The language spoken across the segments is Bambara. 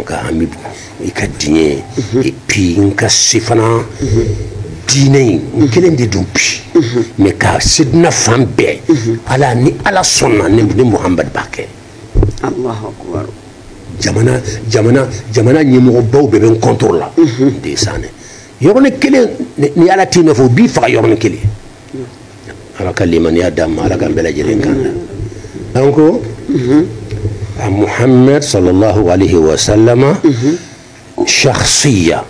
nka an bɛ i ka diɲɛ epi n ka se fana diinɛ in n kelen de don bi mɛ ka se diɲɛ fan bɛɛ ala ni ala sɔnna ne ni muhamadu b'a kɛ jamana jamana jamana ɲɛmɔgɔbaw bɛɛ bɛ n contre la de san dɛ yɔrɔnin kelen ni ala t'i nɔfɛ o b'i faga yɔrɔnin kelen ala ka limaniya d'a ma ala ka bɛɛ lajɛlen kana an ko a muhammed sallallahu alaihi wa sallama shahsiya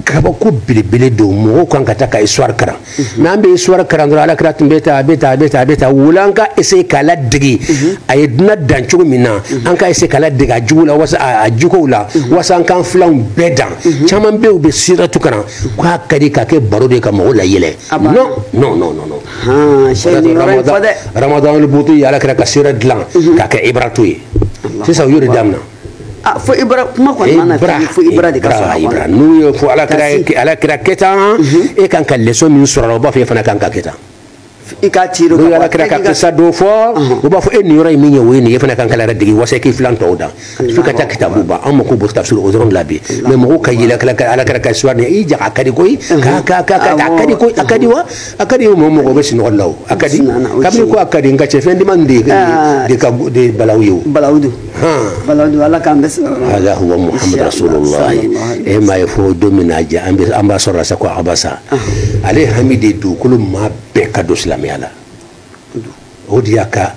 kabako belebele don mɔgɔw kan ka taa ka histoire karan mɛ an bɛ histoire karan dɔrɔn ala kira tun bɛ ta a bɛ ta a bɛ ta a bɛ ta voilà an ka essayer k'a ladege a ye dunan dan cogo min na an ka essayer k'a ladege a jogo la wasa a jogow la wasa an k'an filanw bɛɛ dan caman bɛ yen u bɛ siratu karan k'a ka di ka kɛ baro de ye ka mɔgɔw layɛlɛ non non non non ramadan al buti y'ala kira ka sira dilan ka kɛ ibratu ye sisan u y'o de damina ah, fo ibra kuma kɔni mana fɛn fo ibra de ka sɔrɔ a kɔnɔ n'u y'a fɔ ala kira ala kira kɛ tan mhm. e kan ka leçon min sɔrɔ a la o b'a fɔ e fana kan ka kɛ tan i k'a tiiri ka ala kira ka kisa dɔ fɔ u b'a fɔ e nin yɔrɔ in min ye o ye nin ye e fana kan k'i yɛrɛ dege wasa k'i filan tɔw dan fo ka taa kitabu ban an mako b'o tafsir o dɔrɔn de la bi mɛ mɔgɔw ka yɛlɛ ala kira ka suwa i jaga a ka di koyi a ka di koyi a ka di wa a ka di o mɔgɔ mɔgɔ bɛ sinɔgɔ la o a ka di kabini ko a ka di nka cɛ fɛn diman de de ka de balawu ye o balawu don balawu don ala k'an bɛɛ sɔrɔ ala huwa muhamadu rasulullah e m'a ye fo don min na jɛ an bɛ an b'a sɔrɔ la sa ko abasa ale hami de dugukolo maa bɛɛ ka don silamɛya la o de y'a ka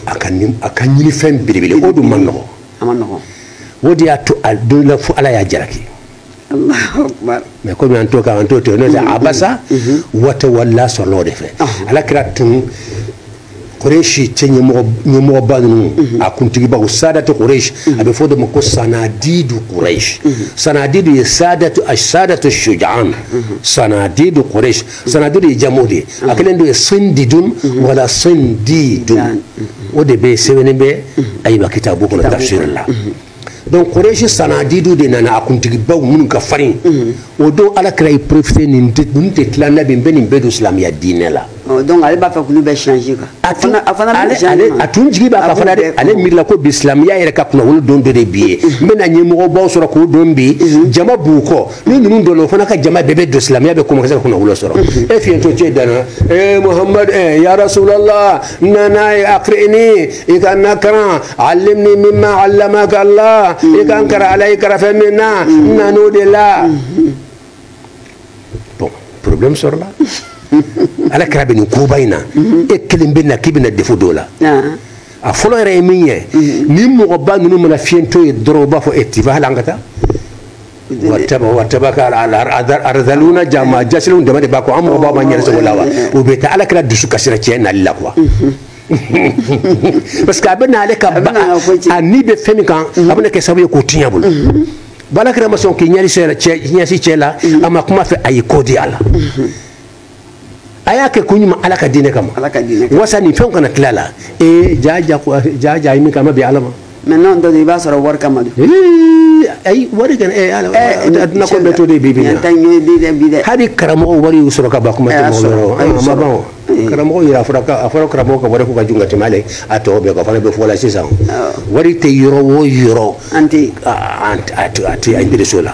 a ka a ka ɲinifɛn belebele o dun man nɔgɔ a man nɔgɔ o de y'a to a don la fo ala y'a jalaki mɛ komi an to ka an to to n'o tɛ mm-hmm. abasa mm-hmm. wa tawalla sɔrɔla o de fɛ uh-huh. ala kira tun koreshi cɛ ɲɛmɔgɔba ninnu mm-hmm. a kuntigibaw sadatu koreshi a bɛ fɔ de ma ko sanadidu koreshi sanadidu ye sadatu sadatu shujaan sanadidu koreshi sanadidu ye jamu de ye a kelen de ye sindidun wala sindidun o de bɛ sɛbɛnnen bɛ ayiba kitabu kɔnɔ tafsir la donc koreshi sanadidu de nana a kuntigibaw minnu ka farin o don ala kira ye profite nin ninnu tɛ tila n na bi n bɛ nin bɛɛ don silamɛya diinɛ la donc ale b'a fɛ k'olu bɛɛ changer kan a tun a fana bɛ changer a tun jigi b'a kan fana dɛ ale miirila ko bi silamɛya yɛrɛ ka kunnawolo don dɔ de bi ye n bɛna ɲɛmɔgɔbaw sɔrɔ k'o don bi jama b'u kɔ ni ninnu donna o fana ka jama bɛɛ bɛ don silamɛya bɛ kɔmɔ ka se ka kunnawolo sɔrɔ e fiyentɔ cɛ nana ee muhamadu ee ya rasulala n nana ye akirini i ka n nakaran alimni mimma alamaka la i ka n karan ala y'i karan fɛn min na n nan'o de la bon problème sɔrɔla ala kira bɛ nin koba in na e kelen bɛ na k'i bɛna defo dɔw la a fɔlɔ yɛrɛ ye min ye ni mɔgɔba ninnu mana fiyentɔ ye dɔrɔn u b'a fɔ e tifa hali an ka taa arzaluna jama jasilenw dama de b'a kɔ an mɔgɔba ma n yɛrɛ sago la wa o bɛ taa ala kira dusu kasira cɛ nali la quoi parce que a bɛ n'ale ka a ni bɛ fɛn min kan a bɛna kɛ sababu ye k'o tiɲɛ bolo bon ala kira ma sɔn k'i ɲɛsin cɛ la a ma kuma fɛ a y'i kɔ di a la a y'a kɛ ko ɲuman ala ka diinɛ kama ala ka diinɛ kama wasa nin fɛnw kana tila la ee ja ja ko ja ja min kama bi ala ma mais non dɔ i b'a sɔrɔ wari kama don ayi wari kana ee ala a tɛna ko bɛɛ to de bi bi na hali karamɔgɔ wari y'u sɔrɔ kaban kuma tɛ mɔgɔ yɔrɔ a ma ban o karamɔgɔ yɛrɛ a fɔra a fɔra karamɔgɔ ka wari ko ka jugu ka tɛmɛ ale a tɔ bɛɛ kan o fana bɛ fɔ la sisan wari tɛ yɔrɔ o yɔrɔ an tɛ a tɛ a tɛ a biriso la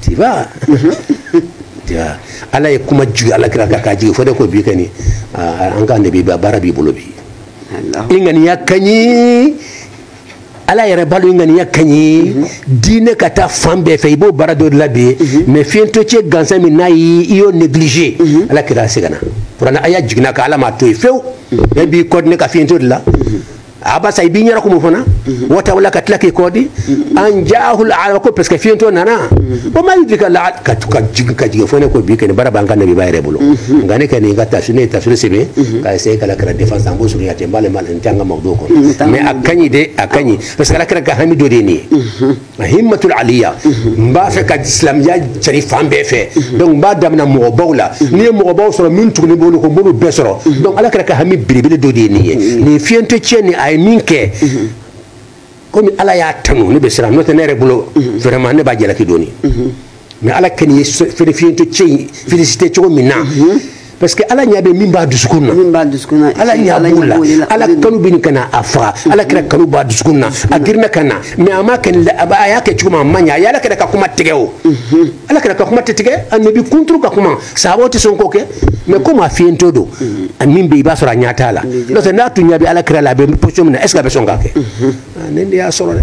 tiba tiba ala ye kuma jigin ala kira kan ka jigin fo ne ko bi kɔni an ka nabiba baara b'i bolo bi i ŋaniya ka ɲi ala yɛrɛ b'a lɔn i ŋaniya ka ɲi diinɛ ka taa fan bɛɛ fɛ i b'o baara dɔ de la bi mais fiyentɔ cɛ gansan min nana i y'o négligé ala kira seginna kuranɛ aya jiginna a kan ala m'a to yen fewu e b'i kɔ di ne ka fiyentɔ de la abasa i b'i ɲɛna kumu fana watawala ka tila k'i kɔ di an jaahu alaama ko parce que fiyentɔ nana wa ma yudrika laala ka jigin ka jigin fo ne ko bi kɔni baara b'an ka nabiba yɛrɛ bolo nka ne kɔni ka tafsiri ne ye tafsiri sɛbɛn ka essayer k'ala kira défense an b'o surunya ten n b'ale ma n tɛ an ka mawudo kɔnɔ mais a ka ɲi de a ka ɲi parce que ala kira ka hami dɔ de ye nin ye himmatul aliya n b'a fɛ ka silamɛya cari fan bɛɛ fɛ donc n b'a damina mɔgɔbaw la n'i ye mɔgɔbaw sɔrɔ min tugunin b'olu kɔ n b'olu bɛɛ sɔrɔ donc ala kira ka hami belebele dɔ de ye nin ye nin fiyentɔ cɛ nin a ye min kɛ komi ala y'a tanu ne bɛ siran n'o tɛ ne yɛrɛ bolo vraiment ne b'a jalaki dɔɔni mais ala kɔni ye fiyentɔ cɛ in félicité cogo min na mhm. parce que ala ɲa bɛ min b'a dusukun na ala ɲa b'o la ala kanu bɛ ɲini ka na a faga mhm. ala kira kanu b'a dusukun na a girinna ka na mais a ma kɛ a y'a kɛ cogo ma a ma ɲa a ye ala kira ka kuma tigɛ o mhm. ala kira ka kuma tɛ tigɛ a nabi kunturu ka kuma sahabaw tɛ sɔn k'o kɛ mais komi a fiyentɔ don min bɛ i b'a sɔrɔ a ɲa t'a la n'o tɛ n'a tun ɲa bɛ ala kira la a bɛ position min na est ce que a bɛ sɔn k'a kɛ ne de y'a sɔrɔ dɛ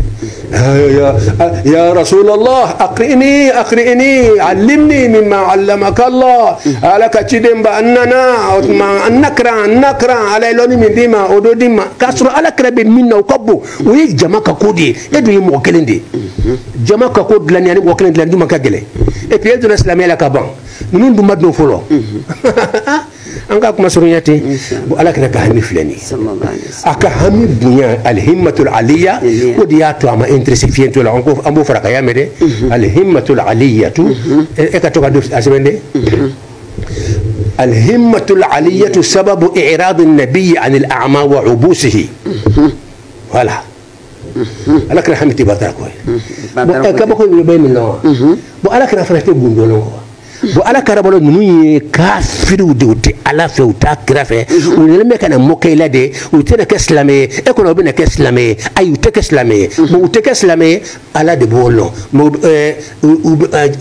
ya rasulallah akrini akrini alimni mima alamaka allah ala ka ciden ba n nana o tuma n nakaran n nakaran ala ye lɔni min d'i ma o dɔ di n ma k'a sɔrɔ ala kira bɛ min na o ka bon o ye jama ka ko de ye e dun ye mɔgɔ kelen de ye jama ka ko dilanni ani mɔgɔ kelen dilanni jumɛn ka gɛlɛn et puis e donna silamɛya la ka ban ninnu dun ma don fɔlɔ an ka kuma surunya ten bon ala kira ka hami filɛ nin a ka hami bonya alhimatul aliya o de y'a to a ma interesse fiyentɔ la an b'o fara kan i y'a mɛn dɛ alhimatul aliyatu e ka to k'a sɛbɛn dɛ alhimatul aliyatu sababu i'rad an-nabiy an al-a'ma wa ubusihi voilà ala kira hami tɛ batara ko ye kabako bɛ bɛ min lɔn bon ala kira fana tɛ gundo lɔn wa bon ala kira bolo ninnu ye kafiriw de u tɛ ala fɛ u t'a kira fɛ u yɛrɛ bɛ ka na mɔkɛ la de u tɛna kɛ silamɛ ye e kɔnɔ u bɛna kɛ silamɛ ye ayi u tɛ kɛ silamɛ ye bon u tɛ kɛ silamɛ ye ala de b'o lɔn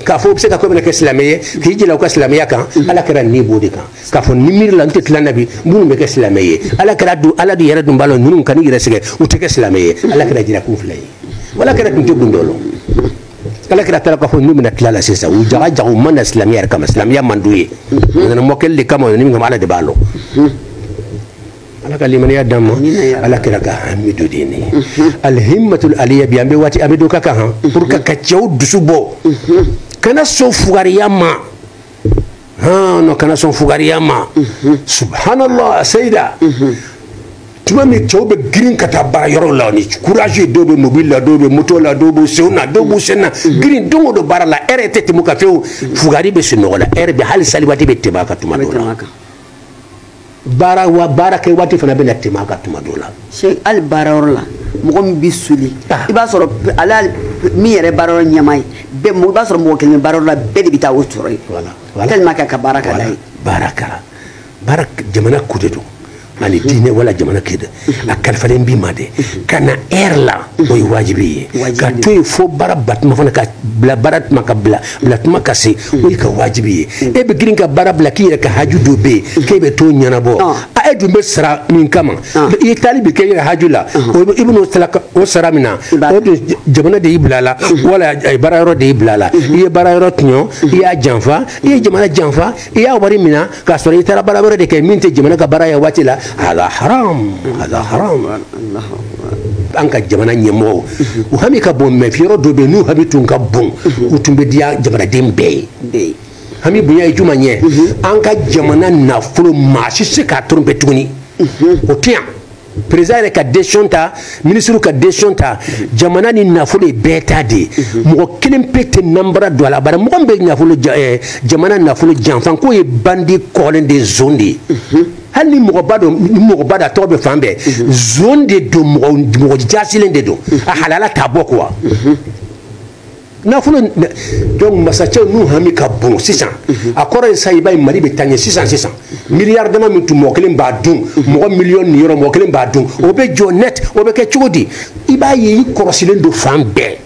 k'a fɔ u bɛ se ka ko bɛna kɛ silamɛ ye k'i jija u ka silamɛya kan ala kira ni b'o de kan k'a fɔ ni miiri la n tɛ tila nabi minnu bɛ kɛ silamɛ ye ala kira dun ala de yɛrɛ dun b'a lɔn ninnu kan'i yɛrɛ sɛgɛn u tɛ kɛ silamɛ ye ala kira jija kun fila ye ala kira tun tɛ gundo lɔn ala kira t'a lɔn k'a fɔ n'u bɛna tila la sisan u jaga jaga u ma na silamɛya yɛrɛ kama silamɛya man d'u ye u nana mɔkɛli de kama u nana min kama ala de b'a lɔn ala ka limaniya d'an ma ala kira ka hami de nin alhimmatul aliya bi an bɛ waati an bɛ don ka kan han pour que ka cɛw dusu bɔ kana sɔn fugariya ma han non kana sɔn fugariya ma mhm. subhanallah seyida mhm. tuma min cɛw bɛ girin ka taa baara yɔrɔw la ni courage dɔw bɛ mobili la dɔw bɛ moto la dɔw b'u senw na dɔw b'u sen na mhm. girin don o don baara la lɛrɛ tɛ tɛmɛ u kan fewu fugari bɛ sunɔgɔ la lɛrɛ bɛ hali sali waati bɛ tɛmɛ a kan tuma dɔw la baara wa baara kɛ waati fana bɛna tɛmɛ a kan tuma dɔ la. se hali baara yɔrɔ la mɔgɔ min bɛ soli. Ah. i b'a sɔrɔ ale min yɛrɛ baara yɔrɔ ɲɛmaa ye bɛɛ mɔgɔ i b'a sɔrɔ mɔgɔ kelen bɛ baara yɔrɔ la bɛɛ de bɛ taa o sɔrɔ yen. wala wala tellement que a ka baara ka d'a ye. baara kɛra baara jamana ko de don ani diinɛ wala jamana kɛ dɛ. a kalifalen b'i ma dɛ ka na lɛri la o ye wajibi ye ka to yen fo baara ban tuma fana ka bila baara tuma ka bila bila tuma ka se o y'e kan wajibi ye e bɛ girin ka baara bila k'i yɛrɛ ka haju dɔ bɛ yen k'e bɛ t'o ɲɛnabɔ a e dun bɛ sara min kama i ye taali min kɛ i yɛrɛ haju la i bɛn'o sara o sara mina o dun jamana de y'i bila a la wala baara yɔrɔ de y'i bila a la i ye baara yɔrɔ tɔɲɔ i y'a janfa i ye jamana janfa i y'a wari mina k'a sɔrɔ i taara baara wɛrɛ de kɛ min tɛ jamana ka baara ye waati la ala haram ala haram an ka jamana ɲɛmɔgɔw u hami ka bon mɛ yɔrɔ dɔ bɛ yen n'u hami tun ka bon u tun bɛ diya jamanaden bɛɛ ye hami bonya ye jumɛn ye an ka jamana nafolo maa si se k'a tromper tuguni o tɛ yan président yɛrɛ ka décision ta ministre ka décision ta jamana nin nafolo ye bɛɛ ta de ye mɔgɔ kelen pe tɛ nanbara don a la bari mɔgɔ min bɛ nafolo eh, jamana nafolo janfa k'o ye bandi kolon de zon de ye hali ni mɔgɔba don ni mɔgɔba don a tɔgɔ bɛ fan bɛɛ zon de don mɔgɔ mɔgɔ jasilen de don a halala t'a bɔ quoi nafolo donc masacɛw n'u hami ka bon sisan a kɔrɔ ye sa i b'a ye mali bɛ taa ɲɛ sisan sisan miliyari dama min tun mɔgɔ kelen b'a dun mɔgɔ miliyɔn niyɔrɔ mɔgɔ kelen b'a dun o bɛ jɔ net o bɛ kɛ cogo di i b'a ye i kɔrɔsilen don fan bɛɛ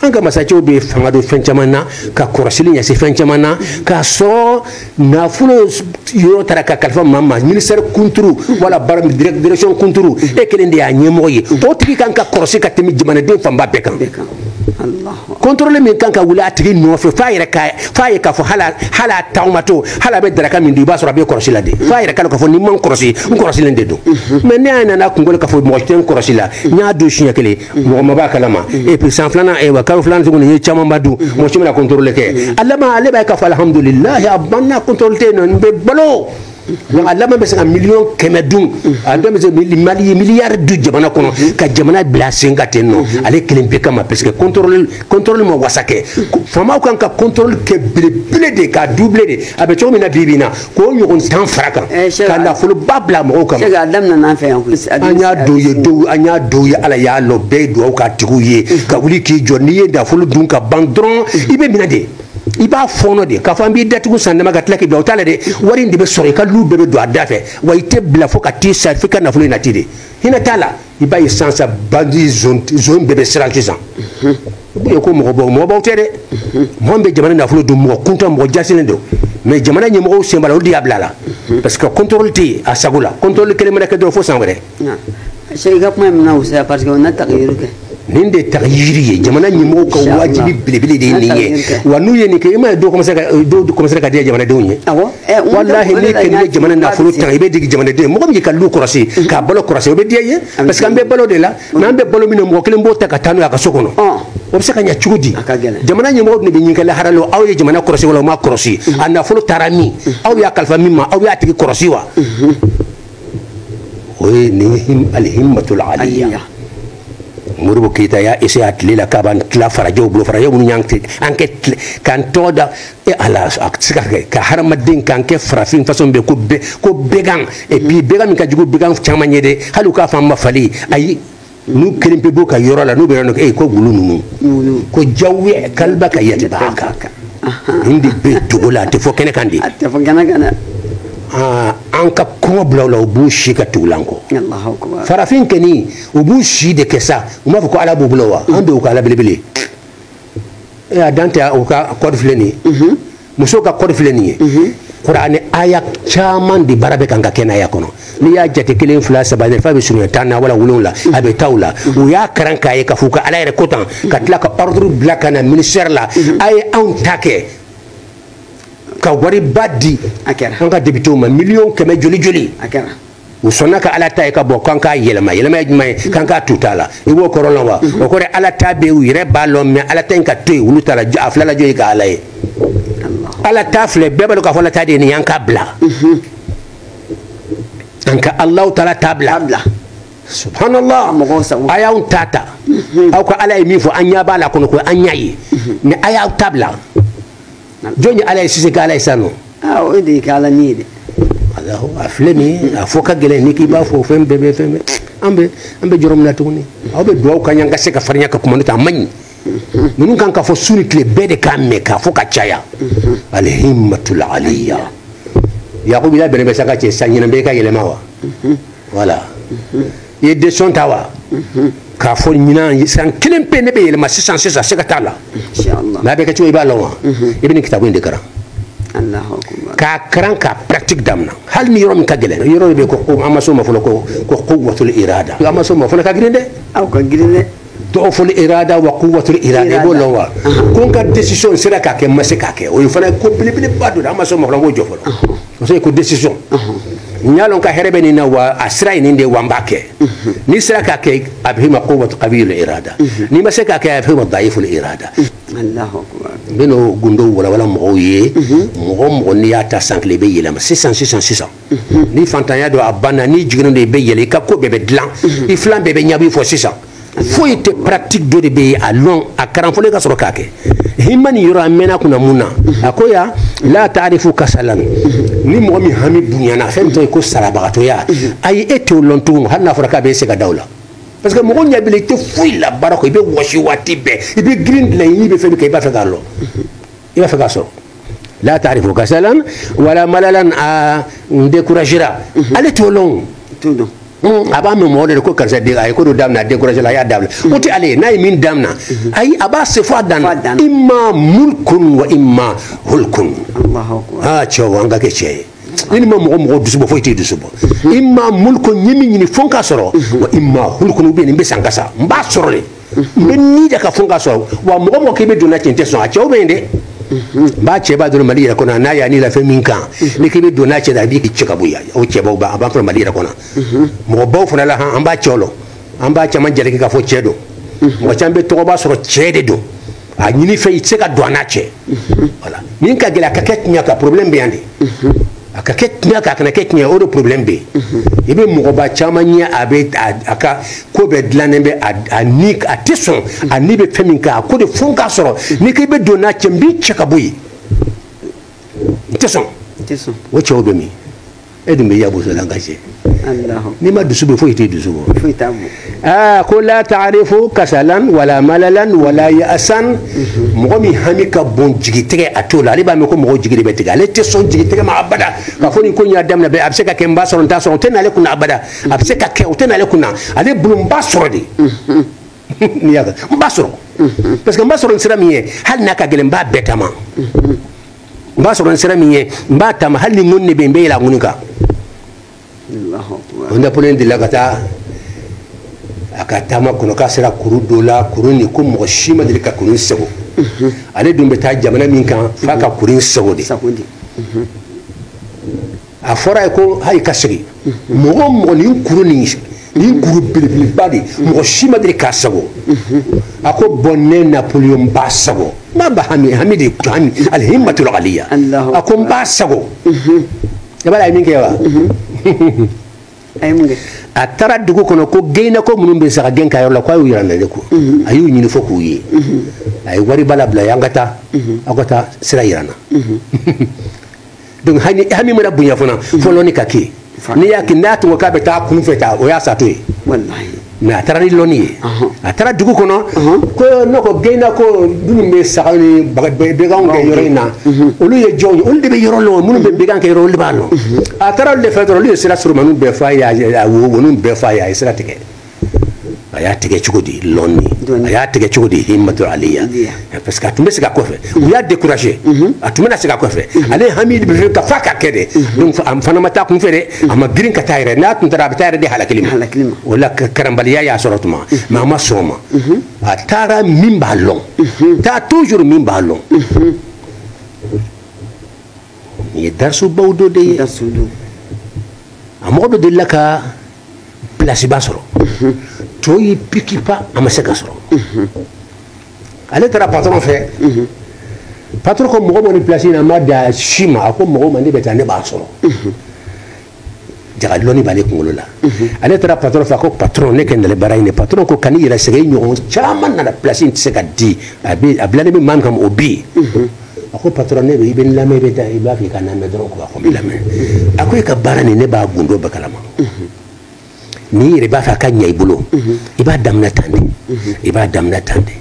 an ka masacɛw bɛ fanga don fɛn caman na ka kɔrɔsili ɲɛsin fɛn caman na k'a sɔrɔ nafolo yɔrɔ taara ka kalifa maa ma ministère kunturu wala baara direction kunturu e kelen de y'a ɲɛmɔgɔ ye o tigi kan ka kɔlɔsi ka tɛmɛ jamanaden fanba bɛɛ kan contrôle min kan ka wuli a tigi nɔfɛ f'a yɛrɛ ka f'a ye k'a fɔ hali a hali a taamatɔ hali a bɛ daraka min dun i b'a sɔrɔ a bɛ kɔlɔsi la de f'a yɛrɛ k'a dɔn k'a fɔ ni n ma n kɔlɔsi n kɔlɔsilen de don mais ne y'a nana kunkolo k'a fɔ mɔgɔ tɛ n kɔlɔsi la n y'a dun siɲɛ kelen mɔgɔ ma b'a kalama et puis san filanan ayiwa kalo filanan tuguni i ye camanba dun mɔgɔ si ma na contrôle kɛ a laban ale b'a ye k'a fɔ alhamdulilahi a banna contrôle tɛ yen nɔ n bɛ balo a laban bɛ se ka miliyɔn kɛmɛ dun a dɔ bɛ se mali ye miliyari dun jamana kɔnɔ ka jamana bila sen ka ten nɔ ale kelen pe kama parce que contrôle contrôle ma wasa kɛ faamaw kan ka contrôle kɛ belebele de k'a double de a bɛ cogo min na bi bi in na k'o ɲɔgɔn tan fara kan eh, ka nafoloba bila mɔgɔw kama an y'a dɔw ye dɔw an y'a dɔw ye ala y'a lɔn bɛɛ ye dugawu k'a tigiw ye mm. ka wuli k'i jɔ n'i ye nafolo dun ka ban dɔrɔn mm. i bɛ minɛ de i b'a fɔɔnɔ de k'a fɔ an b'i datugu san dama ka tila k'i bila o t'a la dɛ wari in de bɛ sɔrɔ i ka lu bɛɛ bɛ don a da fɛ wa i tɛ bila fo ka t'i sa f'i ka nafolo in nati de hinɛ t'a la i b'a ye sisan sa bandi zon bɛɛ bɛ siran sisan i ko mɔgɔbaw mɔgɔbaw tɛ dɛ mɔgɔ min bɛ jamana nafolo dun mɔgɔ kuntan mɔgɔ jasilen don mais jamana ɲɛmɔgɔw sen b'a la olu de y'a bila a la parce que contrôle tɛ yen a sago la contrôle kelen mana kɛ dɔrɔn fo san wɛrɛ i ka kuma min na o sira parce que o na ta ka yiri kɛ nin de ta yiri ye jamana ɲɛmɔgɔw ka wajibi belebele de ye nin ye wa n'u ye nin kɛ i m'a ye dɔw commencer ka dɔw commencer ka diya jamanadenw ye eh, walahi n'i kɛ n'i ye jamana nafolo ta i bɛ digi jamanaden mɔgɔ min y'i ka lu kɔrɔsi mm-hmm. k'a balo kɔrɔsi o bɛ diya i ye parce que an bɛ balo de la mais an bɛ balo min na mɔgɔ kelen b'o ta ka taa n'o ye a ka so kɔnɔ o bɛ se ka ɲɛ cogo di jamana ɲɛmɔgɔ de bɛ ɲininka lahara la aw ye jamana kɔrɔsi wala o ma kɔrɔsi mm-hmm. a nafolo taara min mm-hmm. aw y'a kalifa min ma aw y'a tigi kɔrɔsi wa o ye nin alihimatul aliya modibo keyita y'a essayer a tile la k'a b'an tila farajɛw bolo farajɛw minnu y'an kɛ k'an tɔgɔ da e ala a tɛ se ka kɛ ka hadamaden kan kɛ farafin façon bɛ ko bɛɛ ko bɛgan et puis bɛgan min ka jugu bɛgan caman ye dɛ hali u k'a fɔ an ma fali ayi n'u kelen pe b'u ka yɔrɔ la n'u bɛ yɔrɔ dɔ ko wulu ninnu ko jawuya kaliba ka yɛlɛ b'a kan nin de bɛ dogo la a tɛ fɔ kɛnɛ kan dɛ a tɛ fɔ kɛnɛ kan dɛ an ka kɔngɔ bila u la u b'u si ka tugu an kɔ farafin kɛni u b'u si de kɛ sa u m'a fɔ ko ala b'u bolo wa an bɛ u ka ala belebele eh, a dan tɛ u ka code filɛ nin ye mhm. musow ka code filɛ nin ye mhm. kuranɛ aya caman de baara bɛ kan ka kɛnɛya kɔnɔ n'i y'a jate kelen fila saba f'a bɛ surunya tan na wala wolonwula a bɛ taa o la u y'a karan k'a ye k'a fɔ ka ala yɛrɛ ko tan ka tila ka ordre bila ka na ministère la a ye anw ta kɛ ka wariba di an ka députéw ma miliyɔn kɛmɛ joli joli u sɔnna ka ala ta ye ka bɔ k'an k'a yɛlɛma yɛlɛma ye jumɛn ye k'an k'a tu t'a la i b'o kɔrɔ lɔn wa o kɔrɔ ala ta bɛ u yɛrɛ b'a lɔn mais ala ta in ka to yen olu ta la a fila la jɔn ye ka ala ye ala ta filɛ bɛɛ b'a dɔn k'a fɔ ala ta de ye nin y'an ka bila an ka alahu taala ta bila subhanallah a y'anw ta ta aw ka ala ye min fɔ an ɲɛ b'a la kɔnɔ ko an y'a ye mais a y'aw ta bila jɔn ye ala ye sise k'ala ye sa nɔ ah, o de ye k'ala ni ye dɛ alahu a filɛ nin ye a fɔ ka gɛlɛn n'i k'i b'a fɔ fɛn bɛɛ bɛ fɛn bɛɛ an bɛ an bɛ jɔrɔ min na tuguni aw bɛ duwawu k'an ye an ka se ka farinya ka kuma n'o tɛ a man ɲi ninnu kan ka fɔ su ni tile bɛɛ de k'a mɛn k'a fɔ ka caya alihimatul aliya yakubu i labɛnnen bɛ sa n ka cɛ sa ɲinan bɛ i ka yɛlɛma wa wala i ye décision ta wa k'a fɔ ɲinan san kelen pe ne bɛ yɛlɛma sisan sisan siga t'a la mais a bɛ kɛ cogo i b'a lɔn wa i bɛ nin kitabu in de karan k'a karan k'a pratique damina hali ni yɔrɔ min ka gɛlɛn yɔrɔ de bɛ ko an ma s'o ma fɔlɔ ko ko quwwatul irada an ma s'o ma fɔlɔ ka girin dɛ a ka girin dɛ duuful irada wa kuwatul irada i b'o lɔn wa ko n ka décision sera k'a kɛ n ma se k'a kɛ o ye fana ko belebeleba dɔ de an ma s'o ma o jɔ fɔlɔ parce que ko décision n y'a lɔn ka hɛrɛ bɛ nin na wa a sira ye nin de ye wa n b'a kɛ n'i sera k'a kɛ a bɛ f'i ma kuwatu kawiyul irada n'i ma se k'a kɛ a bɛ f'i ma dayiful irada n bɛn'o gundow walawala mɔgɔw ye mɔgɔ o mɔgɔ n'i y'a ta san kelen i bɛ yɛlɛma sisan sisan sisan ni fantanya don a banna n'i jiginnen don i bɛ yɛlɛ i ka ko bɛɛ bɛ dilan i filan bɛɛ bɛ ɲab'i fɛ sisan foyi tɛ pratique dɔ de bɛ yen a lɔn a karan fɔlɔ i ka sɔrɔ k'a kɛ hima nin yɔrɔ a mɛnna kunna mun na a ko ya la taarifu kasalan ni mɔgɔ min hami bonyana fɛn min tɔ ye ko salabagatɔya ayi e t'o lɔn tugun hali n'a fɔra k'a bɛ se ka da o la parce que mɔgɔ ɲɛ b'i la i tɛ foyi la baara kɔ i bɛ wɔsi waati bɛɛ i bɛ girin dilan i ni bɛ fɛn min kɔ i b'a fɛ k'a lɔn i b'a fɛ k'a sɔrɔ la taarifu kasalan wala malalan a découragera ale t'o lɔn a b'a mɛn mɔgɔ de ko karisa den a ye ko dɔ daminɛ a découragé la a y'a dabila o tɛ ale ye n'a ye min daminɛ ayi a b'a se fo a dan na imma mulkun wa imma hulkun aa cɛw an ka kɛ cɛ ye i ni ma mɔgɔ mɔgɔ dusu bɔ foyi t'i dusu bɔ imma mulkun n ye min ɲini fo n k'a sɔrɔ wa imma hulkun ou bien n bɛ sa n ka sa n b'a sɔrɔ de n bɛ ni da a kan fo n k'a sɔrɔ wa mɔgɔ mɔgɔ k'i bɛ don n'a cɛ n tɛ sɔn a cɛw bɛ yen dɛ n b'a cɛ b'a dɔrɔn mali yɛrɛ kɔnɔ n'a y'a ni la fɛn min kan n'i k'i bɛ don n'a cɛ da a b'i cɛ ka bɔ yan o cɛbaw b'a a b'a sɔrɔ mali yɛrɛ kɔnɔ mɔgɔbaw fana la han an b'a cɛw lɔn an b'a caman jalaki k'a fɔ cɛ don mɔgɔ caman bɛ tɔgɔba sɔrɔ cɛ de don a ɲinifɛn i tɛ se ka don a n'a cɛ wala min ka gɛlɛn a ka kɛ tiɲɛ kan problème bɛ yan de a ka kɛ tiɲɛ kan a kana kɛ tiɲɛ kan o de problème bɛ yen i bɛ mɔgɔba caman ye a bɛ a ka ko bɛɛ dilannen bɛ a ni a tɛ sɔn a ni bɛ fɛn min kan a ko de fo n k'a sɔrɔ n'i ko i bɛ don n'a cɛ n b'i cɛ ka bɔ yen n tɛ sɔn o cɛw bɛ min e dun bɛ yan boso la ka cɛ n'i ma dusu bɔ foyi t'i dusu bɔ aa ko la taarifu kasalan wala malalan wala yasan mɔgɔ min hami ka bon jigitigɛ a t'o lɔn ale b'a mɛn ko mɔgɔ jigi de bɛ tigɛ ale tɛ sɔn jigitigɛ ma abada k'a fɔ nin ko in n y'a daminɛ bɛɛ a bɛ se ka kɛ n b'a sɔrɔ n t'a sɔrɔ o tɛ n'ale kunna abada a bɛ se ka kɛ o tɛ n'ale kunna ale bolo n b'a sɔrɔ de n'i y'a kɛ n b'a sɔrɔ parce que n b'a sɔrɔ ni sira min ye hali n'a ka gɛlɛn n b'a bɛɛ taama n b'a sɔrɔ ni sira min ye n b'a taama hali ni ŋɔni de bɛ yen n bɛ yɛlɛ a ŋɔni kan bon napoleon delila ka taa a ka taama kɔnɔ k'a sera kuru dɔ la kuru nin ko mɔgɔ si ma deli ka kuru in sagon mhm. ale dun bɛ taa jamana min kan f'a ka kuru in sagon de mhm. a fɔr'a ye ko ale ka segin mɔgɔ mɔgɔ nin kuru nin nin kuru belebeleba de mɔgɔ si ma deli k'a sagon a ko bon ne napoleon b'a sagon n b'a ba hami hami de hami al himmatul aliya a ko n b'a sagon i b'a lɔn a ye min kɛ wa a taara dugu kɔnɔ ko geyinako minnu bɛ saga gɛn a yɔrɔ la ko a y'u yira n na le ko a y'u ɲini fo k'u ye a ye wariba labila u ye an ka taa aw ka taa sira yira n na donc hami hami mana bonya fana mm. fo lɔnni ka kɛ n'i y'a kɛ n'a tun k'a bɛ taa kunfɛtaa o y'a satɔ ye mais a taara ni lɔnni ye a taara dugu kɔnɔ ko ne ko gɛnna ko minnu bɛ saga ni bɛganw gɛn yɔrɔ in na mhm. olu ye jɔnw ye olu de bɛ yɔrɔ lɔn minnu bɛ bɛgan gɛn yɔrɔ olu de b'a lɔn mhm. a taara olu de fɛ dɔrɔn olu ye sira surunmaniw bɛɛ fɔ a ye a wo woniw bɛɛ fɔ a ye a ye sira tigɛ a y'a tigɛ cogo di lɔni a y'a tigɛ cogo di himato aliya parce que a tun bɛ segin a kɔfɛ u y'a découragé mhm. a tun bɛna segin a kɔfɛ mhm. ale hami de bɛ fɛ ka fa ka kɛ dɛ mhm. donc a fana ma taa kun fɛ dɛ a ma girin ka taa yɛrɛ n'a tun taara a bɛ taa yɛrɛ de halakili ma o la karanbaliya y'a sɔrɔ tuma mais a ma sɔn o ma a taara min b'a lɔn taa toujours min b'a lɔn nin ye darisubaw dɔ de ye a mɔgɔ dɔ delila ka pilasiba sɔrɔ to y'i pikipa a ma se k'a sɔrɔ ale taara patɔrɔn fɛ patɔrɔn ko mɔgɔ ma ni pilasi in na an ma d'a si ma a ko mɔgɔ ma ne bɛ taa ne b'a sɔrɔ jaga lɔnni b'ale kunkolo la ale taara patɔrɔn fɛ a ko patɔrɔn ne kɛ nalen baara in de patɔrɔn ko kan'i yɛrɛ sɛgɛn i ɲɔgɔn caman nana pilasi in tɛ se ka di a bilalen bɛ min kama o bɛ yen a ko patɔrɔn ne bɛ i bɛ n lamɛn i bɛ taa i b'a fɛ i ka n lamɛn dɔrɔn ko a ko n b'i lamɛn a ko e ka baara nin ne b'a gundo bɛɛ kalama n'i yɛrɛ b'a fɛ a ka ɲɛ i bolo i b'a daminɛ tan de i b'a daminɛ tan de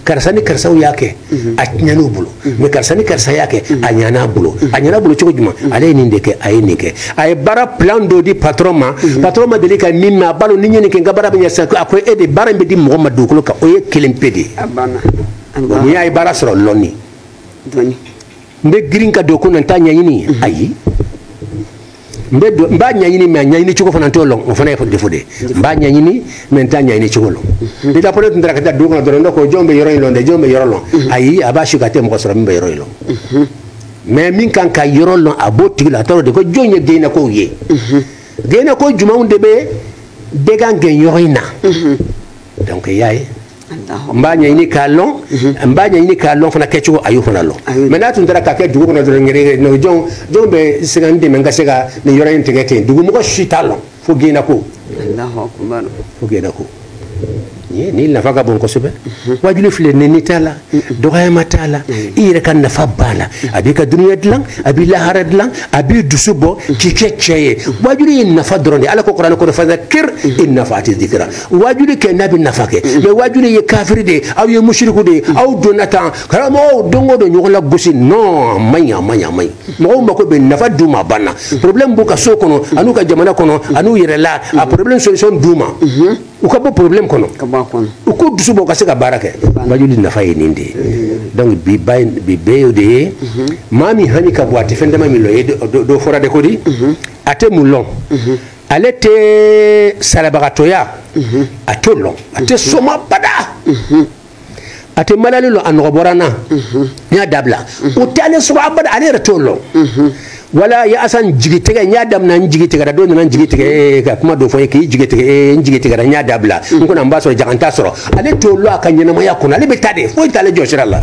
karisa ni karisaw y'a kɛ a tiɲɛn'u bolo mais karisa ni karisa y'a kɛ a ɲana a bolo a ɲana a bolo cogo jumɛn ale ye nin de kɛ a ye nin kɛ a ye baara plan dɔ di patɔrɔn ma patɔrɔn ma deli ka min mɛn a b'a dɔn ni n ye nin kɛ n ka baara bɛ ɲɛ sisan a ko e de baara in bɛ di mɔgɔ ma dugukolo kan o ye kelen pe de ye bon n'i y'a ye baara sɔrɔ lɔnni n bɛ girin ka don ko na n t'a ɲɛɲini mhm. ayi n bɛ don n b'a ɲɛɲini mais a ɲɛɲini cogo fana n t'o lɔn o fana ye défaut de ye n b'a ɲɛɲini mais n t'a ɲɛɲini cogo lɔn mhm. ni dapole tun taara ka taa dugu kɔnɔ dɔrɔn ne ko jɔn bɛ yɔrɔ in lɔn dɛ jɔn bɛ yɔrɔ lɔn mhm. ayi a b'a su ka tɛ mɔgɔ sɔrɔ min bɛ yɔrɔ in lɔn mais min ka kan ka yɔrɔ lɔn a b'o tigi la a tɔɔrɔ de ko jɔn ye gɛnnakɛw ye gɛnnakɛ jumɛnw de bɛ bagan gɛn yɔrɔ in na donc i y'a ye n b'a ɲɛɲini k'a lɔn n b'a ɲɛɲini k'a lɔn fana kɛcogo a y'o fana lɔn mais n'a tun taara k'a kɛ dugu kɔnɔ dɔrɔn ngere no jɔn jɔn bɛ se ka n dɛmɛ n ka se ka nin yɔrɔ in tigɛ ten dugumɔgɔ si t'a lɔn fo gɛnnakɛw fo gɛnnakɛw nin nafa ka bon kosɛbɛ wajuli filɛ nɛni t'a la dɔgɔyama t'a la i yɛrɛ ka nafa b'a la a b'i ka dunuya dilan a b'i lahara dilan a b'i dusu bɔ k'i kɛ cɛ ye wajuli ye nafa dɔrɔn de ala ko kuranɛ kɔnɔ fadakir in nafaati dikira wajuli kɛ n'a bɛ nafa kɛ mais wajuli ye kafiri de ye aw ye musiriku de ye aw donna tan karamɔgɔw don o don ɲɔgɔn lagosi non a ma ɲi a ma ɲi a ma ɲi mɔgɔw mako bɛ nafa d'u ma banna problème b'u ka so kɔnɔ an'u ka jamana kɔnɔ an'u yɛrɛ la a problème solution d'u ma u ka bɔ problème kɔnɔ u k'u dusu bɔ u ka se ka baara kɛ wajuli nafa ye nin de ye donc bi ba bi bɛɛ y'o de ye maa min hami ka bon a tɛ fɛn dama min lɔn ye dɔ fɔra de ko di a tɛ mun lɔn ale tɛ salabagatɔya mhm. a t'o lɔn a tɛ sɔn ma abada mhm. a tɛ malali lɔn a nɔgɔ bɔra n na mhm. n y'a dabila o tɛ ale sɔrɔ abada ale yɛrɛ t'o lɔn wala yaasan jigi tigɛ n y'a damina n jigi tigɛra dɔ nana n jigi tigɛ ee ka kuma dɔ fɔ ye k'i jigi tigɛ ee n jigi tigɛra n y'a dabila n kɔnɔ n b'a sɔrɔ jaga n t'a sɔrɔ ale t'o lɔn a ka ɲɛnamaya kɔnɔ ale bɛ taa de foyi t'ale jɔ sira la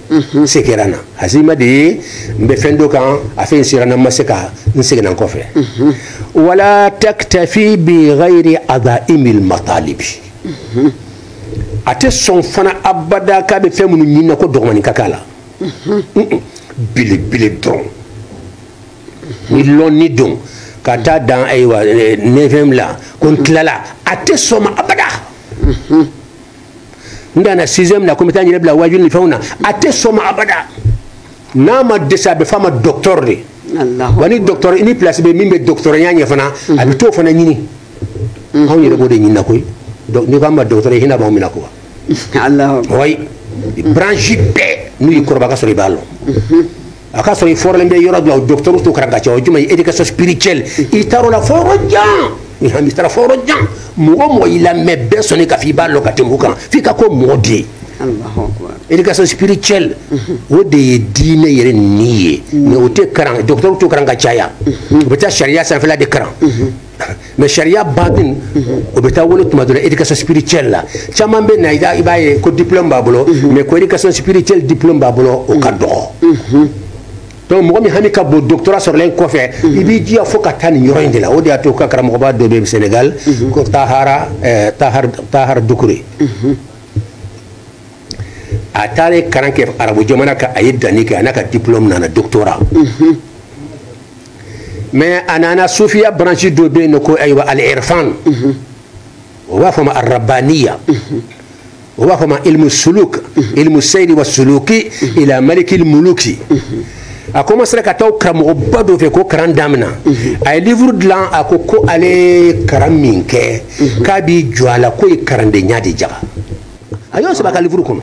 n se kɛra n na hazima de ye n bɛ fɛn dɔ kan a fɛn sera n ma se ka n seginna n kɔfɛ wala taktafi bi ghayri adaimil matalibi a tɛ sɔn fana abada k'a bɛ fɛn minnu ɲini na ko dɔgɔmani ka k'a la belebele dɔrɔn ni lɔnni don ka taa dan ayiwa neuvième la ko n tilala a tɛ sɔn ma abada n danna sixième na ko n bɛ taa n yɛrɛ bila waajuli ni fɛnw na a tɛ sɔn ma abada n'a ma dɛsɛ a bɛ f'a ma docteur de wa ni docteur i ni place bɛ min bɛ docteurya ɲɛ fana a bɛ t'o fana ɲini anw yɛrɛ b'o de ɲinina koyi n'i ko an ma docteur ye hinɛ b'anw minɛ ko wa wayi branche bɛɛ n'u y'i kɔrɔbɔ a ka sɔrɔ i b'a lɔn a ka sɔrɔ i fɔrɔlen bɛ yɔrɔ dɔ la docteurw t'o kalan ka caya o jumɛn ye éducation spirituelle i taar'o la fo yɔrɔ jan i hami taara fo yɔrɔ jan mɔgɔ o mɔgɔ y'i lamɛn bɛɛ sɔnni k'a fɔ i b'a lɔn ka tɛmɛ o kan f'i ka k'o mɔgɔ de ye éducation spirituelle o de ye diinɛ yɛrɛ ni ye mais o tɛ kalan docteurw t'o kalan ka caya u bɛ taa sariya sanfɛla de kalan mais sariya batin o bɛ taa wolo tuma dɔ la éducation spirituelle la caman bɛ na i b'a ye ko diplôme b'a bolo mais ko éducation spirituelle diplôme b'a bolo o ka dɔgɔ donc mɔgɔ min hami ka bon doctorat sɔrɔlen kɔfɛ i b'i jija fo ka taa nin yɔrɔ in de la o de y'a to ka karamɔgɔba dɔ bɛ sénégal ko tahara tahar tahar dukure a taara ye kalan kɛ arabu jamana kan a ye danni kɛ a n'a ka diplôme nana doctorat mais a nana sufiya branche dɔ bɛ yen nɔ ko ayiwa al irfan o b'a fɔ ma ar rabbaniya o b'a fɔ ma ilmu suluk ilmu seyiri wa suluki ila malikil muluki a commencera ka taa karamɔgɔba dɔ fɛ ko karan damina a ye livre dilan a ko ko ale ye karan min kɛ k'a b'i jɔ a la k'o ye karandenya de jaga a y'o sɛbɛn a ka livre kɔnɔ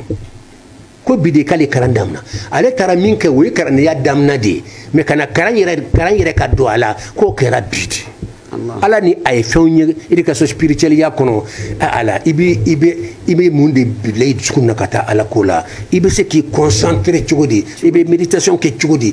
ko bi de k'ale kalan damina ale taara min kɛ o ye kalandenya damina de ye mais ka na kalan yɛrɛ kalan yɛrɛ ka don a la k'o kɛra bi de ala ni a ye fɛnw ye éducation spirituelle ya kɔnɔ a la i bɛ i bɛ i bɛ mun de bila i dusukun na ka taa ala ko la i bɛ se k'i concentrer cogo di i bɛ méditation kɛ cogo di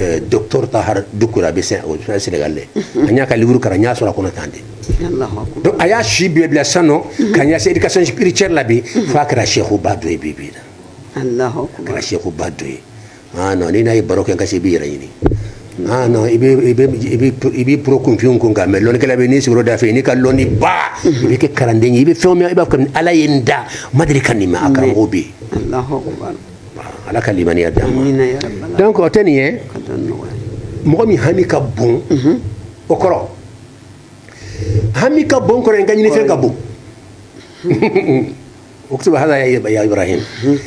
eh, docteur tahar dukura bɛ sɛn o fɛn senegal dɛ mhm. an y'a ka livre kalan n y'a sɔrɔ a kɔnɔ tan de donc a y'a si bɛɛ bila sisan nɔ mhm. ka ɲɛsin éducation spirituelle la bi mhm. f'a kɛra sɛkuba dɔ ye bi bi na a kɛra sɛkuba dɔ ye ah non n'i n'a ye baro kɛ ka se i b'i yɛrɛ ɲini ah non i bɛ i bɛ i bɛ i bɛ pro kunfinw kun kan mais lɔnnikɛla bɛ n'i sigiyɔrɔ da fɛ n'i ka lɔnni ba i bɛ kɛ kalanden ye i bɛ fɛn o fɛn i b'a fɔ ko ala ye n da n ma deli ka nin mɛn a karamɔgɔ bɛ yen. ala ka limaniya di ma donc o tɛ nin ye mɔgɔ min hami ka bon mhm. o kɔrɔ hami ka bon kɔrɔ ye n ka ɲinifɛn ka bon ukutubu hada ya ibrahim mhm.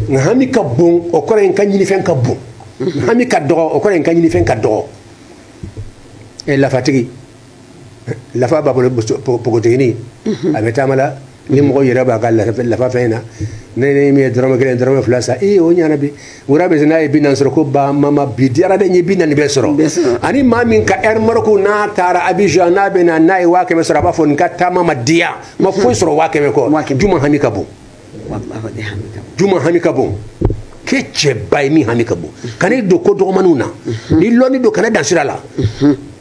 n ka hami ka bon o kɔrɔ ye n ka ɲinifɛn ka bon mhm. hami ka dɔgɔ o kɔrɔ ye n ka ɲinifɛn ka dɔgɔ eh, lafatigi lafa b'a bolo npogotigini mhm. a bɛ taama la ni mɔgɔ yɛrɛ b'a ka lafa fɛn in na ne ni min ye dɔrɔmɛ kelen dɔrɔmɛ fila san ee o ɲana bi wura bɛ se n'a ye bi naani sɔrɔ ko ba mama bi diyara dɛ n ye bi naani bɛɛ sɔrɔ ani maa min ka ɛri mariko n'a taara abijan n'a bɛ na n'a ye waa kɛmɛ sɔrɔ a b'a fɔ ne ka taama ma diya n ma foyi sɔrɔ waa kɛmɛ kɔ juma hami ka bon juma hami ka bon kɛ cɛba ye min hami ka bon kan'i don ko dɔgɔmaniw na ni lɔnni don kan'i dan sira la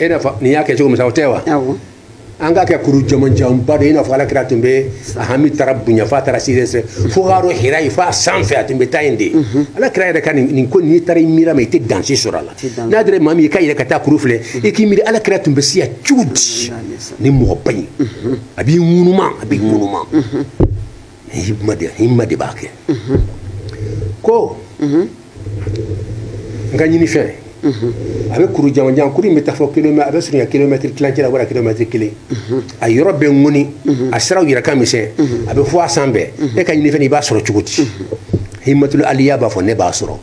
i n'a fɔ nin y'a kɛ cogo min sa o tɛ wa an k'a kɛ kuru jamanjanba de i n'a fɔ ala kira tun bɛ a hami taara bonya f'a taara sire sɛ fo k'a dɔn hira ye f'a sanfɛ a tun bɛ taa yen de ala kira yɛrɛ ka nin ko n'i taara i miira ma i tɛ dan si sɔrɔ a la n'a dira maa min ye k'a yɛrɛ ka taa kuru filɛ i k'i miiri ala kira tun bɛ se yan cogo di ni mɔgɔba in a b'i ŋunuma a b'i ŋunuma himma de himma de b'a kɛ ko n ka ɲinifɛn a bɛ kuru jamanjan kuru in bɛ taa fo kilomɛtiri a bɛ surunya kilomɛtiri tilancɛ la wara kilomɛtiri kelen a yɔrɔ bɛɛ ŋɔni a siraw yɛrɛ ka misɛn a bɛ fo a sanfɛ e ka ɲinifɛn i b'a sɔrɔ cogo di himatul aliya b'a fɔ ne b'a sɔrɔ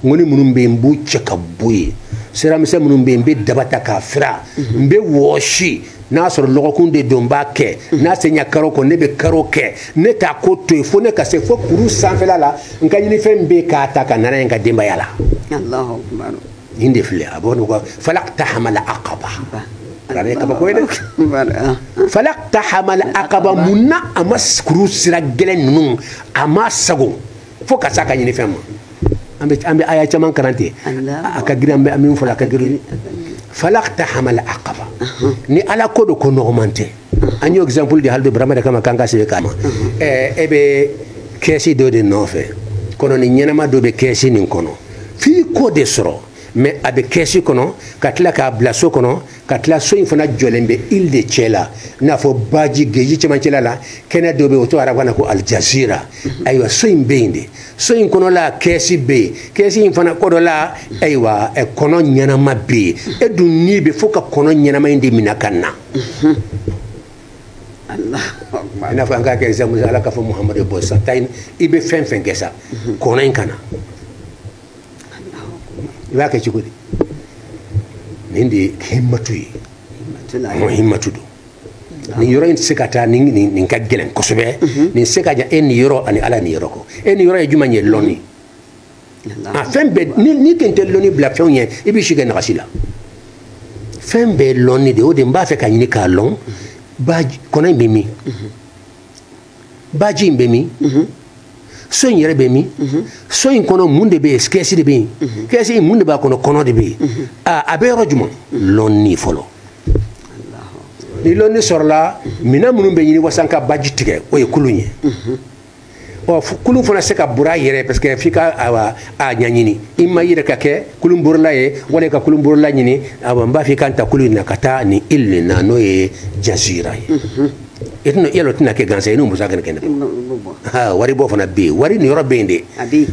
ŋɔni minnu bɛ yen n b'u cɛ ka bɔ yen siramisɛn minnu bɛ yen n bɛ daba ta k'a fira n bɛ wɔsi n'a sɔrɔ lɔgɔkun de don n b'a kɛ n'a sera karo kɔ ne bɛ karo kɛ ne t'a ko to yen fo ne ka se fo kuru sanfɛla la n ka ɲinifɛn bɛ k'a ta ka na n'a ye n ka denbaya la nin de filɛ a b'o nɔgɔ falak tahamala akaba arabe kabako ye dɛ falak tahamala akaba mun na a ma kuru sira gɛlɛn ninnu a ma sagon fo ka s'a ka ɲinifɛn ma an bɛ an bɛ aya caman kalan ten a ka girin an bɛ min fɔ a ka girin falakta hamal aqaba ni ala ko don ko nɔgɔman tɛ an y'o exemple di hali bi burama de kama k'an ka sɛbɛn kama ɛɛ e bɛ kɛsi dɔ de nɔfɛ kɔnɔnin ɲɛnama dɔ bɛ kɛsi nin kɔnɔ f'i k'o de sɔrɔ mais a bɛ kɛsi kɔnɔ ka tila k'a bila so kɔnɔ ka tila so in fana jɔlen bɛ île de cɛ la i n'a fɔ baji geji cɛmancɛla la kɛnɛ dɔ bɛ yen o tɔgɔ arabukan na ko alijazira ayiwa so in bɛ yen de so in kɔnɔla kɛsi bɛ yen kɛsi in fana kɔnɔla ayiwa kɔnɔ ɲɛnama bɛ yen e dun i b'a fɛ ka kɔnɔ ɲɛnama in de minɛ ka na i n'a fɔ an k'a kɛ exemple ala k'a fɔ muhamadu bɔ sa taa i bɛ fɛn o fɛn kɛ sa kɔnɔ in kana i b'a kɛ cogo di nin de ye himmatu ye o himmatu don nin yɔrɔ in tɛ se ka taa nin ka gɛlɛn kosɛbɛ mhm. nin sira ka jan e niyɔrɔ ani ala niyɔrɔ ko e niyɔrɔ ye jumɛn ye lɔnni a fɛn bɛɛ n'i tun tɛ lɔnni bila fɛnw ɲɛ i bɛ si kɛ nagasi la fɛn bɛɛ lɔnni de o de n b'a fɛ ka ɲini k'a lɔn mhm. ba kɔnɔ in bɛ min mhm. baji in bɛ min mhm. so in yɛrɛ bɛ min mhm. so in kɔnɔ mun de bɛ yen kɛsi de bɛ yen mhm. kɛsi in mun de b'a kɔnɔ kɔnɔ de bɛ yen a bɛ yɔrɔ jumɛn lɔnni fɔlɔ ni lɔnni sɔrɔla minɛn minnu bɛ ɲini walasa ka baji tigɛ o ye kulun ye ɔ kulun fana tɛ se ka bori a yɛrɛ parce que f'i ka wa a ɲɛɲini i ma yɛrɛ ka kɛ kulun borila ye wali ka kulun borila ɲini awa n b'a f'i ka n ta kulun in na ka taa nin île nin na n'o ye jazira ye i tɛna yɛlɛn o tɛna kɛ gansan ye n'o musaka kɛnɛ ha wari bɔ fana bɛ yen wari niyɔrɔ bɛ yen de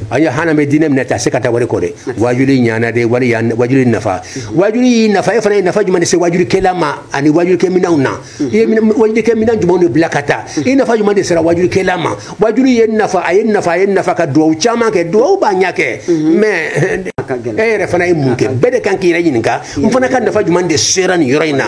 an ye hana bɛ diinɛ minɛ tɛ se ka taa wari kɔ dɛ wajuli ɲana de wari wajuli nafa wajuli y'i nafa e fana ye nafa jumɛn de se wajuli kɛla ma ani wajuli kɛ minɛnw na i ye wajuli kɛ minɛn jumɛn de bila ka taa i nafa jumɛn de sera wajuli kɛla ma wajuli ye nafa a ye nafa a ye nafa ka duwawu caman kɛ duwawu b'a ɲɛ kɛ mais e yɛrɛ fana ye mun kɛ bɛɛ de ka kan k'i yɛrɛ ɲininka n fana ka nafa jumɛn de sera nin yɔrɔ in na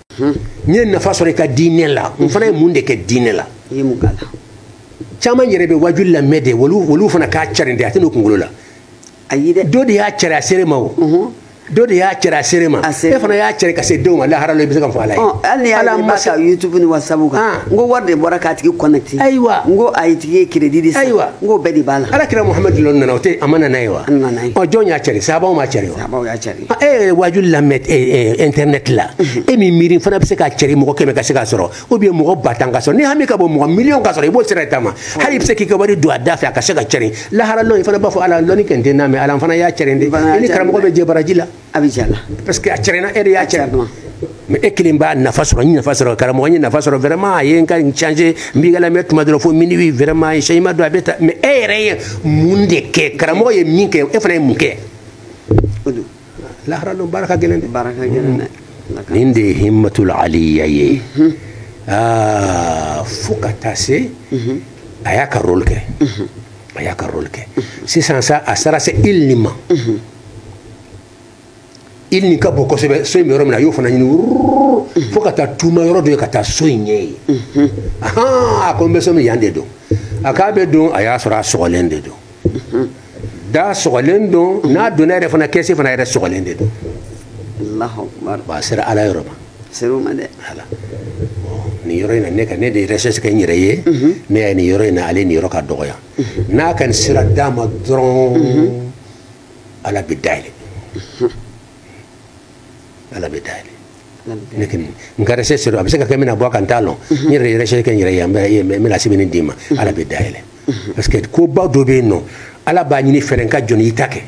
n'i ye nafa sɔrɔ i ka diinɛ la n fana ye mun de kɛ diinɛ la caman yɛrɛ bɛ waju lamɛn de olu fana k'a carin de a tɛ n'u kunkolo la dɔ de y'a cari a sera i ma o dɔ de y'a cari a sera i ma e fana y'a cari ka se jɔn ma lahara la i bɛ se k'a fɔ ala ye hali n'i y'a mɛn sa youtube ni whatsapp kan n ko wari de bɔra k'a tigi connecter ayiwa n ko a ye tigi ye crédit de san ayiwa n k'o bɛɛ de b'a la ala kira muhamadu lɔn nana o tɛ a ma na n'a ye wa ɔ jɔn y'a cari sabaw m'a cari wa sabaw y'a cari e yɛrɛ waaju lamɛn internet la e ma miiri fana bɛ se k'a cɛri mɔgɔ kɛmɛ ka se k'a sɔrɔ ou bien mɔgɔ ba tan k'a sɔrɔ n'i hami ka bon mɔgɔ miliyɔn k'a sɔrɔ i b'o sira taama hali i bɛ se k'i ka wari don a da fɛ a ka se ka cɛri lahara lɔn i fana b'a fɔ ala lɔnni kɛ n tɛ na mais ala n fana y'a cɛri dɛ i ni karamɔgɔ bɛ jɛ baraji la a bɛ jɛ la parce que a cɛrila e de y'a cɛri mais e kelen b'a nafa sɔrɔ n nafa sɔrɔ karamɔgɔ n ye nafa sɔrɔ vraiment a ye n ka n changer n b'i ka lamɛn tuma dɔrɔn fo minuit vraiment cɛ ɲuman don a bɛ taa mais e yɛrɛ ye mun de kɛ karamɔgɔ ye min kɛ e fana ye mun kɛ lahara don baara ka gɛlɛn dɛ baara ka gɛlɛn dɛ nin de ye himmatul aliya ye fo ka taa se a y'a ka rôle kɛ a y'a ka rôle kɛ sisan sa a sera se île nin ma île nin ka bon kosɛbɛ so in bɛ yɔrɔ min na a y'o fana ɲini fo ka taa tuma yɔrɔ dɔ ye ka taa so in ɲɛ ye a ko n bɛ so min yan de don a k'a bɛ don a y'a sɔrɔ a sɔgɔlen de don da sɔgɔlen don n'a donna yɛrɛ fana kɛsi fana yɛrɛ sɔgɔlen de don a sera ala yɔrɔ ma nin yɔrɔ in na ne ka ne de recherche kɛ n yɛrɛ ye ne y'a ye nin yɔrɔ in na ale nin yɔrɔ ka dɔgɔya n'a ka nin sira d'a ma dɔrɔn ala bɛ da yɛlɛ ala bɛ da yɛlɛ ne kɔni n ka recherche rɔ a bɛ se ka kɛ mina bɔ kan t'a lɔn n yɛrɛ ye recherche kɛ n yɛrɛ ye n bɛna sɛbɛnni d'i ma ala bɛ da yɛlɛ parce que koba dɔ bɛ yen nɔ ala b'a ɲini fɛrɛ ka jɔni i ta kɛ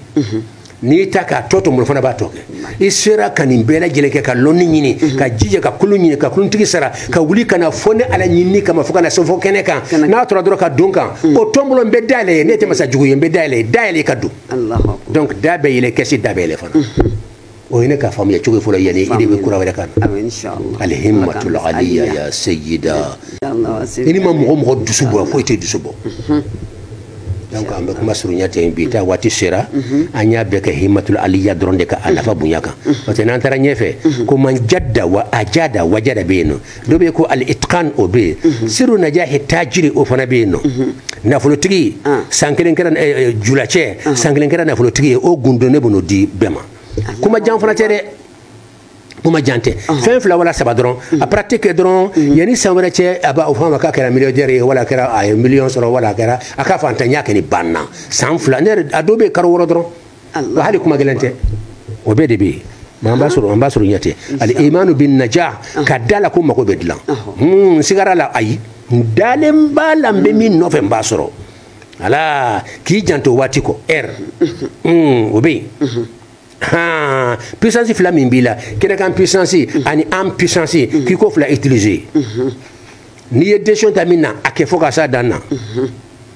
n'i y'i ta k'a tɔ to mɔgɔ fana b'a tɔ kɛ i sera ka nin bɛɛ lajɛlen kɛ ka lɔnni ɲini mhm. ka jija ka kulun ɲini ka kuluntigi sara ka mhm. wuli ka na fo ne ala ɲinini kama fo ka na se fo kɛnɛ kan n'a tora dɔrɔn ka don kan mhm. o tɔnbolo n bɛ da yɛlɛ i ye ne tɛ masa jugu ye n bɛ da yɛlɛ i ye da yɛlɛ ka don donc da bɛ yɛlɛ kɛsi da bɛ yɛlɛ fana o ye ne ka faamuya cogo fɔlɔ yanni i de bɛ kura wɛrɛ kan al himmatul aliya ya seyida i ni ma mɔgɔ mɔgɔ dusu bɔ foyi t'i dusu bɔ donc an bɛ kuma surunya ten bi ta waati sera an y'a bɛɛ kɛ himmatul aliya dɔrɔn de kan a nafa bonya kan parce que n'an taara ɲɛfɛ ko man jada wa ajada wajada bɛ yen nɔ dɔ bɛ yen ko al itqan o bɛ yen siru najahi tajiri o fana bɛ yen nɔ nafolotigi san kelen kɛra eh, eh, julacɛ san kelen kɛra nafolotigi ye o gundo ne bɛn'o di bɛɛ ma kuma jan fana tɛ dɛ kuma jan tɛ fɛn fila wala saba dɔrɔn a pratique kɛ dɔrɔn yanni san wɛrɛ cɛ a b'a o fɔ ma k'a kɛra millionnaire ye wala a kɛra a ye miliyɔn sɔrɔ wala a kɛra a ka faantanya kɔni banna san fila ne yɛrɛ a dɔw bɛ yen kalo wɔɔrɔ dɔrɔn wa hali kuma gɛlɛn tɛ o bɛɛ de bɛ yen mais an b'a sɔrɔ an b'a sɔrɔ ɲɛ tɛ al imanu bi najah ka d'a la ko mago bɛ dilan n sigara a la ayi n dalen b'a la n bɛ min nɔfɛ n b'a sɔrɔ ala k'i janto waati kɔrɔ o bɛ yen han puissance fila min b'i la kɛnɛkan puissance ani an puissance k'i k'o fila utiliser n'i ye décision ta min na a kɛ fo ka s'a dan na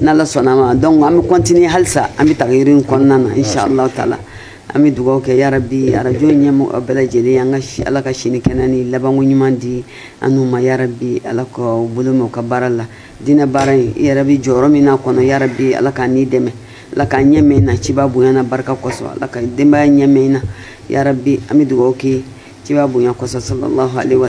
n'ala sɔnna ma donc an bɛ continuer halisa an bɛ tagayiri in kɔnɔna na inshallah taala an bɛ dugawu kɛ yarabi arajo ɲɛmɔgɔ bɛɛ lajɛlen an ka ala ka si ni kɛnɛ ni labanko ɲuman di an n'u ma yarabi ala ka u bolo mɛn u ka baara la diinɛ baara in i yɛrɛ bɛ jɔyɔrɔ min n'a kɔnɔ yarabi ala k'a n'i dɛmɛ ala k'a ɲɛ mɛn na ciba bonya n'a barika kosɔn ala ka denbaya ɲɛ mɛn na yarabi an bɛ dugawu kɛ ciba bonya kosɔn sallallahu alaihi wa